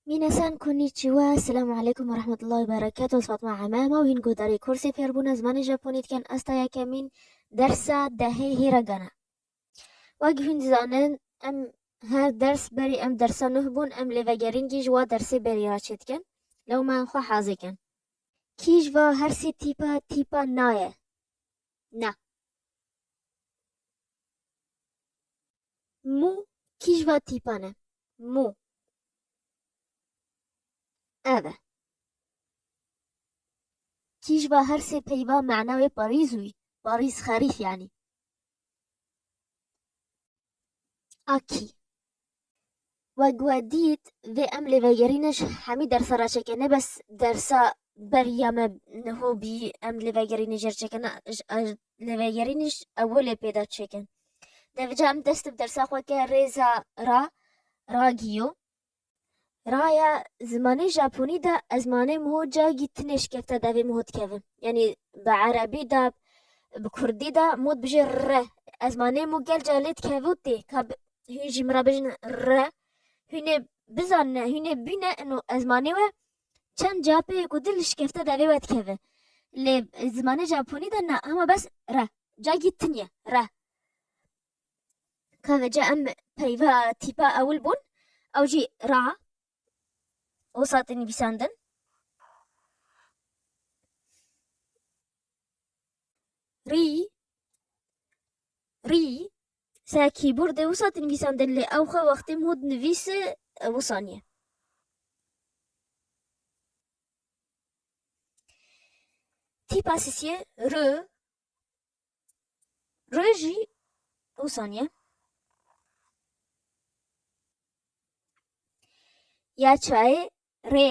Minasan Konnichiwa, Selamu Aleykum ve Rahmetullahi ve Berekatuh, ez Fatma Eme, ma û hîn guhdarê kursê fêrbûna zimanê Japonî dikin, ez ta yekemîn dersa dehê hî re gana. Wek hûn dizanin em her ders berî em dersa nuh bûn, em lê vegerîngî ji wa dersê berî re çêdikin, lewmayan xwe hazê kin. Kî ji va her sê tîpa tîpa na ye? Na. Mû kîj va tîpan e? Mû ev e. Kîj va her sê peyva mana wê parîz û parîz xerîf yanî. A kî. Wek we dît vê em lê vegerîne ji hemî dersa re çêke ne bes dersa beriya me niho bî em lê vegerînê jê re çêke ne lê vegerînê ji ewilê pê de çêke. Devija em dest bi dersa xwe ke rêza ra ragiyo raya zimanê japonî de ez manê miho cagî tinê şikefte devê miho dikevin yanî bi erebî de bi kurdî de mod bijê re ez manê mo gel ca lê dikeve tê ka hûn jî min re bijin re hûnê bizanine hûnê bîne ino ez manê we çend capê ku dil şikefte devê we dikeve lê zimanê Japonî de na hema bes re cagî tiniye re keve ca em peyva tîpa ewil bûn ew jî ra o satê nivîsandin rî rî Seh kîbor dê wisa dinivîsandin lê ew xwe wextê mû dinivîse wisa niye. Tîpa sisiyê rö rö jî wisa niye. Ya çayê rê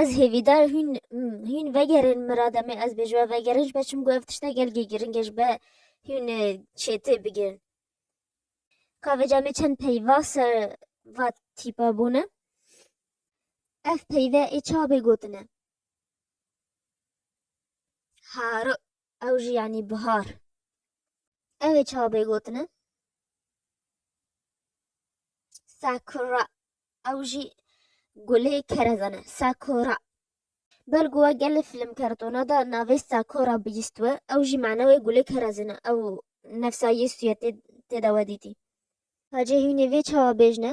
Ez hêvîdar hîn hîn vegerin mirada me ez bêje vegerin ji be çim got tişta gelgê giringe ji be hîn çêtê bigirin. Kavêca me çend peyva ser va tîpa bûne. Ev peyve ê çabê gotine. Haro Ew jî yanî bihar. Ew ê çawa bê gotine? Sakura. Ew jî gulê kerezan e. Sakura. Belgo we gelê film kartona da navê Sakura bihîst we, ew jî mana wê gulê kerezan e. Ew nefsa Yêsû ye tê de we dîtî. Hacê hûnê vê çawa bêjne?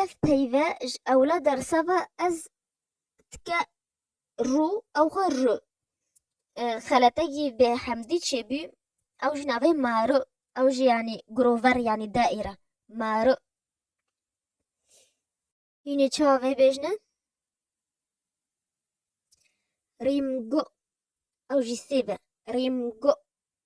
Ev peyve ji ewla dersa ve ez tike rû ew xwe ru. Xelete jî bê hemdî çêbû ew ji navê ma ru ew jî yanî grover yanî daîre ma ru. Hîn ê çawa vê bêjne? Rîm go ew jî sêve rîm go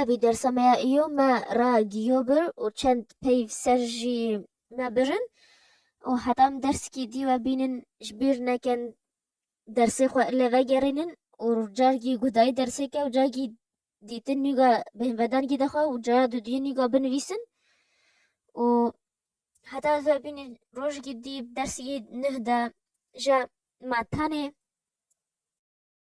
Evî dersa me ya îyo me ra giyo bir û çend peyv ser jî me birin û heta em dersikî dî we bînin ji bîr nekin dersê xwe li vegerînin û cargî gudayî dersêke û cargî dîtin nîga bêhnvedangî dixwe û cara dudiyê nîga binivîsin û heta ez ve bînin rojikî dî dersî neh de ja me tenê